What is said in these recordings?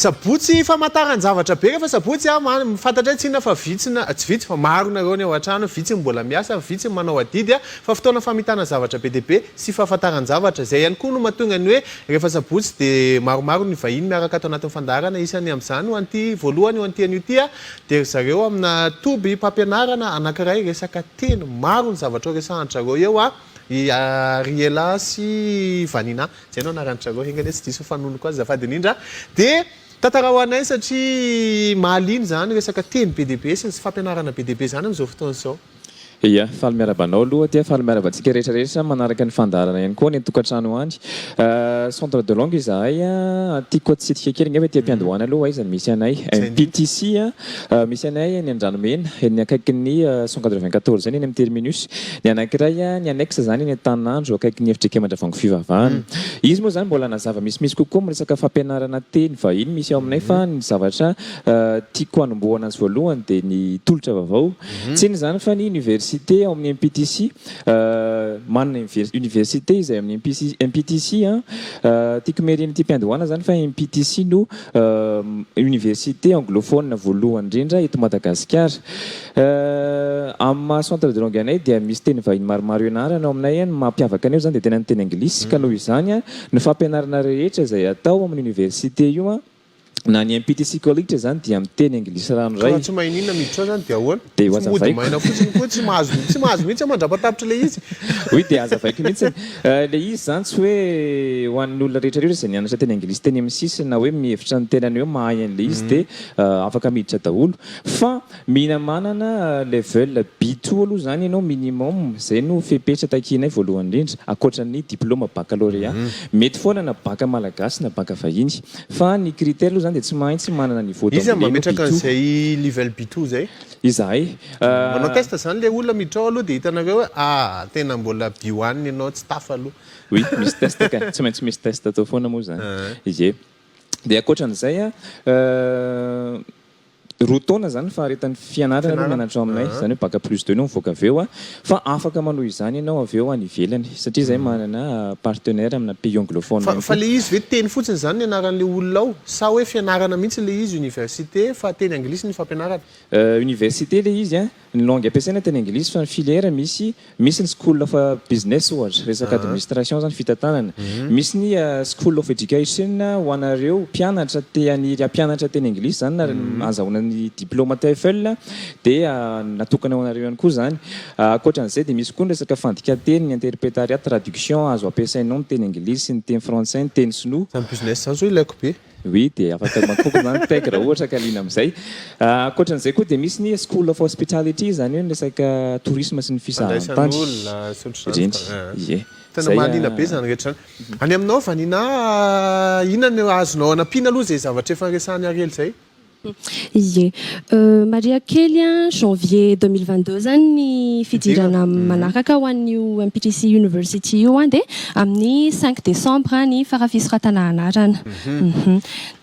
Sabotsy famantaran-javatra be rehefa sabotsy a! Fantatray tsy inona fa vitsy na tsy vitsy fa maro nareo ny ao an-trano, vitsy ny mbola miasa, vitsy ny manao adidy a! Fa fotoana famitana zavatra be dia be sy fahafantaran-javatra. Izay ihany koa no mahatonga ny hoe rehefa sabotsy dia maromaro ny vahiny miaraka ato anatin'ny fandaharana, isany amin'izany ho an'ity voalohany, ho an'ity anio ity a! Dia ry zareo amina toby mpampianarana anankiray resaka teny, maro ny zavatra horesahan-dry zareo eo a! i Ariela sy Vanina, izay no anaran-dry zareo, enga anie tsy diso ny fanononoko azy azafady indrindra a! Dia tantara ho anay satria mahaliana izany resaka teny be dia be sy ny fampianarana be dia be izany amin'izao fotoana izao. Ia, faly miarahaba anao aloha aty a, faly miarahaba antsika rehetra rehetra manaraka ny fandaharana ihany koa any an-tokantrano any. Centre de langue izahay a, tiako hatsidika kely angamba ety am-piandohana aloha aiza no misy anay. MPTC a, misy anay eny Andranomena, eny akaikin'ny cent quatre-vingt-quatorze eny, eny amin'ny terminus. Ny anankiray a, ny annexe izany eny Antaninandro akaikin'ny efitr'Ikem Andravoahangy Fivavahana. Izy moa izany mbola nazava misimisy kokoa amin'ny resaka fampianarana teny vahiny misy ao aminay fa ny zavatra tiako hanombohana azy voalohany dia ny tolotra vaovao Tsy inona izany fa ny université ao amin'ny MPTC, manana université izay amin'ny MPTC, tiako meriana ity mpiandohana izany fa MPTC no université anglophone voalohany indrindra eto Madagasikara. Amin'ny maha centre de langue anay dia misy teny vahiny maromaro ianarana ao aminay, ny mampiavaka anay moa izany dia tena ny teny anglisy ka noho izany ny fampianarana rehetra izay atao amin'ny université io, Na ny MPT Psychology izany dia miteny anglisy ranoray. Raha tsy mahay n'inona miditra ao izany dia ahoana? Dia Tsy mody hozavaiko. maina fotsiny koa tsy mahazo tsy mahazo mihitsy aho mandrapatapitra ilay izy. Oui dia hazavaiko mihitsiny. Ilay izy izany tsy hoe ho an'ny olona rehetra rehetra izay nianatra teny anglisy teny amin'ny sisiny na hoe mihevitra ny tenany hoe mahay an'ilay izy dia afaka miditra daholo fa Mila manana level B-two aloha izany ianao minimum, izay no fepetra takianay voalohany indrindra, ankoatra ny diploma bakalôrea. Mety foana na baka malagasy na baka vahiny. Fa ny critère aloha izany dia tsy mahaintsy manana niveau d'anglais no B-two. Iza mametraka an'izay level B-two izay? Izahay. Manao test izany ilay olona miditra ao aloha dia hitanareo hoe ah, tena mbola B one ianao, tsy tafa aloha. Oui, misy test kay, tsy maintsy misy test atao foana moa izany. Ie. Dia ankoatra an'izay an. Roa taona izany faharetan'ny fianarana no mianatra ao aminay, izany hoe bac plus deux no mivoaka avy eo, fa afaka manohy izany ianao avy eo any ivelany, satria izahay manana partenaire amina pays anglophone ihany Fa koa. le izy ve teny fotsiny izany ny anaran'le olona ao? Sa hoe fianarana mihitsy le izy, université, fa teny anglisy ny fampianarana? Université le izy an! Ny langue ampiasaina teny anglisy fa ny filière misy misy ny school of business ohatra resaka administration zany fitantanana misy ny school of education ho anareo mpianatra te haniry hampianatra teny anglisy zany na azahoana ny diploma TEFL dia natokana ho anareo ihany koa zany ankoatra an'izay dia misy koa ny resaka fandikanteny ny interpretariat traduction azo ampiasainao ny teny anglisy ny teny frantsay ny teny sinoa Zany business zany zao ilaiko be. Oui, dia afaka mankôpy na mitaigy raha ohatra ka liana amin'izay. Ankoatran'izay koa dia misy ny School of Hospitality, izany hoe ny resaka tourisme sy ny fisahantany. Fandraisana olona sy ohatr'izany. Ireny, ie. Tena mahaliana be izany rehetra izany. Any aminao Vanina, inona no azonao hanampiana aloha izay zavatra efa resahan'i Ariel izay? Ie. Maria kely a, janvier deux mille vingt deux zany ny fidirana manaraka ho an'io MPTC University io a, dia amin'ny cinq décembre ny fara fisoratana anarana.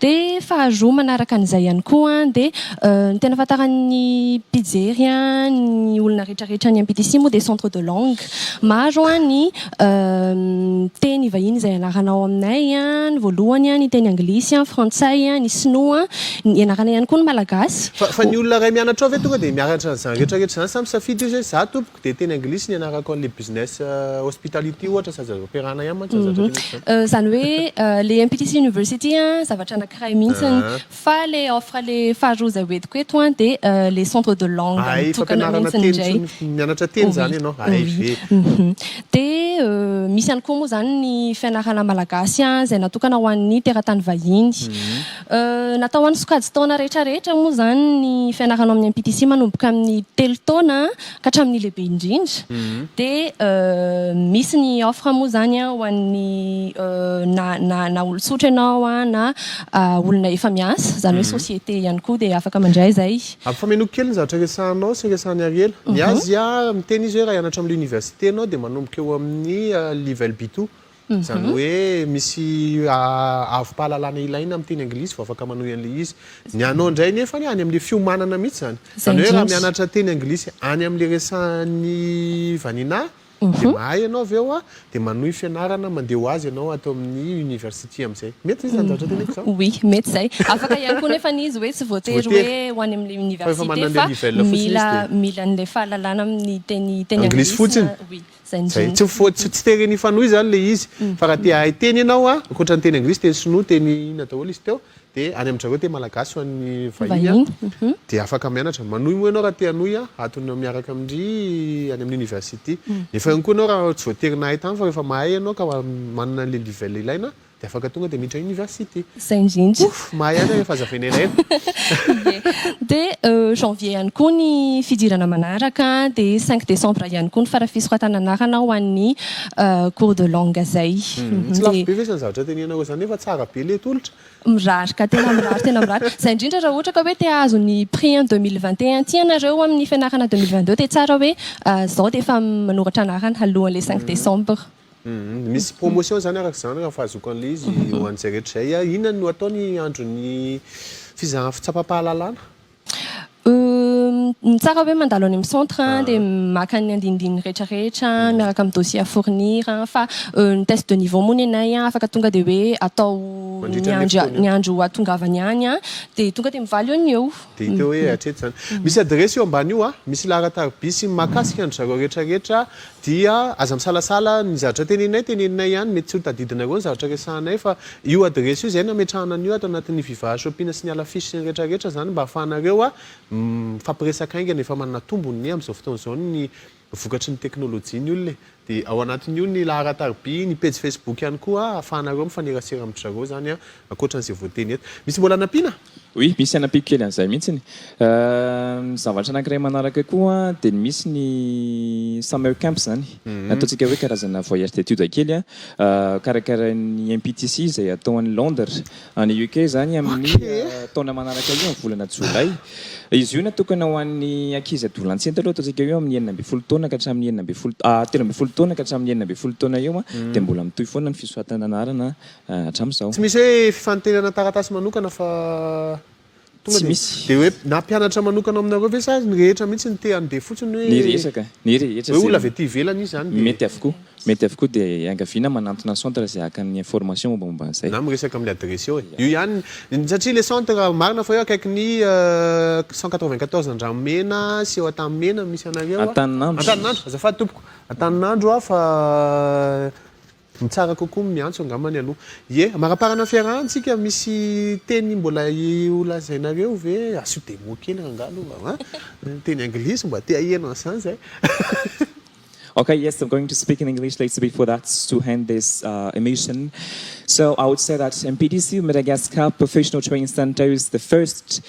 Dia faharoa manaraka an'izay ihany koa dia ny tena ahafantaran'ny mpijery ny olona rehetrarehetra any MPTC moa dia centre de langue. Maro ny Ny teny vahiny izay ianarana ao aminay ny voalohany ny teny anglisy, ny frantsay, ny sinoa, ianarana ihany koa ny malagasy. Fa fa ny olona iray mianatra ao ve tonga dia mianatra an'izany rehetra rehetra izany sa misafidy izy hoe za tompoko dia teny anglisy no ianarako an'ilay business hospitality ohatra sy aza ampiarahana ihany mantsy izany zavatra telo izany. Izany hoe ilay MPTC University zavatra anankiray mihitsy Fa le offre le faharoa zay hoentiko eto an de le centre de langue Ahay mitokana fampianarana mintsiny teny ndray. intsony f- mianatra teny Oui, zany ianao? Ahay oui. ve? Mhm. De misy ihany koa moa zany ny fianarana malagasy an izay natokana ho an'ny teratany vahiny. Natao ho an'ny sokajin-taona rehetra rehetra moa zany ny fianarana ao amin'ny MPTC manomboka amin'ny telo taona ka hatramin'ny lehibe indrindra dia misy ny offre moa izany an ho an'ny na na na olon-tsotra ianao an na olona efa miasa izany hoe société ihany koa dia afaka mandray izay. Ampifamenoiko kely ny zavatra resahanao sy resahan'i Ariela. Ny azy an miteny izy hoe raha hianatra amin'ny l'université ianao dia manomboka eo amin'ny level B2 Izany hoe misy avom-pahalalana ilaina amin'ny teny anglisy vao afaka manohy an'ilay izy. Ny anao indray nefany any amin'ilay fiomanana mihitsy izany. Izany hoe raha mianatra teny anglisy any amin'ilay resahan'ny vanina dia mahay ianao avy eo dia manohy fianarana mandeha ho azy ianao ato amin'ny University amin'izay. Mety ve izany zavatra teneniko izany? Oui, mety izay. Afaka ihany koa nefany izy hoe tsy voatery hoe ho any amin'ilay Université fa mila an'ilay fahalalana amin'ny teny anglisy fotsiny. Zay, tsy mifoha, tsy tsy te re ny fanohy zany le izy, fa raha te hahay teny ianao a, ankoatra ny teny anglisy, teny sinoa, teny inona daholo izy teo, de any amin-dry zareo teny malagasy ho an'ny vahiny a, de afaka mianatra, manohy moa ianao raha te hanohy a, atony miaraka amin-dry any amin'ny university, nefa ihany koa ianao raha tsy voatery nahay tany fa rehefa mahay ianao ka manana an'le level ilaina Dia afaka tonga dia miditra université. Zay indrindra. Ouff, mahay any rehefa aza veneraina. Dia janvier ihany koa ny fidirana manaraka dia cinq décembre ihany koa ny farafisoratana anarana ho an'ny cours de langue zay. Tsy lafo be ve zany zavatra tenenanao zany nefa tsara be le tolotra? Mirary ka, tena mirary, tena mirary. Zay indrindra raha ohatra ka hoe te hahazo ny prix en deux mille vingt et un ity ianareo amin'ny fianarana deux mille vingt deux dia tsara hoe zao dia efa manoratra anarana alohan'ilay cinq décembre. Misy promotion izany araka izany raha fahazoako an'ilay izy ho an'izay rehetra izay. Inona no atao ny andron'ny fizahan fitsapampahalalana? Ny tsara hoe mandalo any amin'ny centre dia maka ny andinindininy rehetra rehetra miaraka amin'ny dossier à fournir fa ny test de niveau moa nenay afaka tonga dia hoe atao ny andro hatongavany any dia tonga dia mivaly eo ny eo. Dia hita eo hoe hatreto izany. Misy adiresy io ambany io, misy laharan-tariby sy ny mahakasika an-dry zareo rehetra rehetra Dia aza misalasala ny zavatra teneninay, teneninay ihany, mety tsy ho tadidinareo ny zavatra resahanay fa io adiresy io izay nametrahana an'io ato anatin'ny Viva Shopina sy ny Hala Fish sy ny rehetra rehetra izany mba hahafahanareo mifampiresaka haingana, efa manana tombony anie amin'izao fotoana izao ny vokatry ny teknolojia ny olona e! Dia ao anatin'io ny laharan-tariby, ny pejy Facebook ihany koa ahafahanareo mifanerasera amin-dry zareo izany Ankoatra an'izay voateny eto. Misy mbola hanampiana? Oui, misy hanampiako kely an'izay mihitsiny. Ny zavatra anankiray manaraka koa dia ny misy ny summer camps izany. Ny ataontsika hoe karazana voyage d'études kely. Karakarain'ny MPTC izay atao any Londres, any UK izany amin'ny taona manaraka io, amin'ny volana jolay. Izy io natokana ho an'ny ankizy adolantsenty aloha, ataontsika hoe amin'ny enina ambin'ny folo taona ka hatramin'ny enina ambin'ny folo, telo ambin'ny folo taona ka hatramin'ny enina ambin'ny folo taona eo. Dia mbola mitohy foana ny fisoratana anarana hatramin'izao. Tsy misy hoe fifantenana taratasy manokana fa tonga dia dia hoe na mpianatra manokana ao aminareo ve sa ny rehetra mihitsy no te handeha fotsiny hoe Ny resaka, ny rehetra hoe olona avy aty ivelany izy izany dia mety avokoa, mety avokoa dia iangaviana manantona ny centre izay haka ny information mombamomba an'izay. Na miresaka amin'ny adiresy eo e. Io ihany ny, satria ilay centre marina fa eo akaikin'ny cent quatre-vingt-quatorze Andranomena sy eo Antanimena no misy anareo a. Antaninandro. Antaninandro, azafady tompoko. Antaninandro aho fa. Ny tsara kokoa ny miantso angambany aloha. Ie, amaraparana ny fiarahantsika, misy teny mbola holazainareo ve? Asio demo kely rangah aloha va? An? Teny anglisy mba te haheno an'izany izay. Okay, yes, I'm going to speak in English later before that to hand this emission. So, I would say that MPDC, Madagascar Professional Training Centre is the first.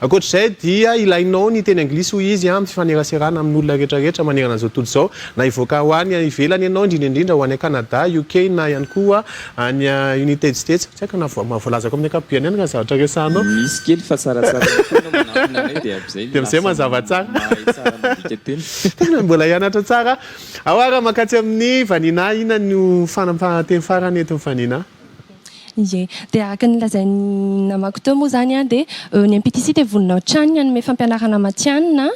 Ankoatra izay dia ilainao ny teny anglisy hoy izy amin'ny fifaneraserana amin'olona rehetrarehetra manerana izao tontolo izao, na hivoaka ho any ivelany ianao, indrindra indrindra ho any Canada, UK na ihany koa any United States. Tsy haiko na voalazako amin'ny ankapobeny any raha zavatra resahanao. Misy kely fa tsaratsara ihany koa ianao manantona anay dia amin'izay no lasa mahay tsara mandika teny. Tena mbola hianatra tsara aho ary mankatsia amin'ny vanina ahy. Inona no fanapahan-teny farany etin'ny vanina? Ie. Dia araka ny lazain'ny namako teo moa izany dia ny MPTC dia vonona hatrany ny hanome fampianarana matihanina.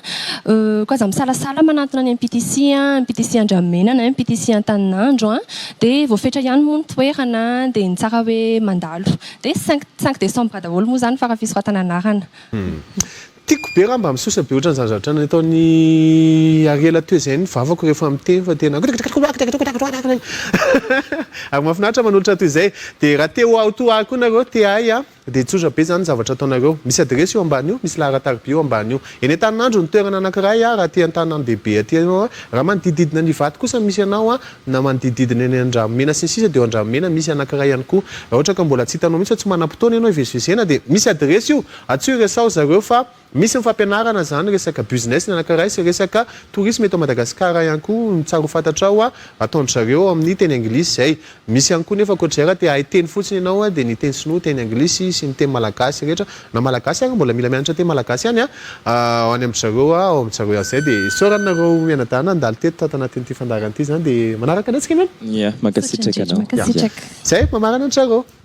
Koa aza misalasala manantona ny MPTC, MPTC Andramena na MPTC Antaninandro. Dia voafetra ihany moa ny toerana dia ny tsara hoe mandalo. Dia cinq cinq décembre daholo moa izany fara-fisoratana anarana. Tiako be raha mba misosa be ohatran'izany zavatra nataon'i Ariela teo izay ny vavako rehefa miteny fa tena ary mahafinaritra manolotra toy izay dia raha te ho aho toa ahy koa nareo te ahy aho dia tsotra be izany ny zavatra ataonareo misy adiresy io ambany io misy laharatarby io ambany io eny Antaninandro ny toerana anakiray aho raha aty Antanandehibe aty ianao aho raha manodidididina ny Ivato kosa misy anao aho na manodidididina eny Andramena sy ny sisa dia eo Andramena misy anakiray ihany koa raha ohatra ka mbola tsy hitanao mihitsy fa tsy manam-potoana ianao hivezivezena dia misy adiresy io Atsio resaho zareo fa misy ny fampianarana zany resaka busines ny anankiray sy resaka tourisme eto Madagascar ihany koa ny tsara ho fantatrao ataondry zareo ao amin'ny teny anglisy zay misy ihany koa nefa ankoatr'izay raha te ahay teny fotsiny ianao dia ny teny sinoa teny anglisy sy ny teny malagasy rehetra na malagasy ary mbola mila mianatra teny malagasy ihany ao any amindry zareo ao amindry zareo ihany zay dia isaorana nareo mianadahy nandalo teto tato anatin'ity fandaharana ity zany dia manaraka anay tsika miala. Ia, mankasitraka anao. Mankasitraka. Zay, mamarana an-dry zareo.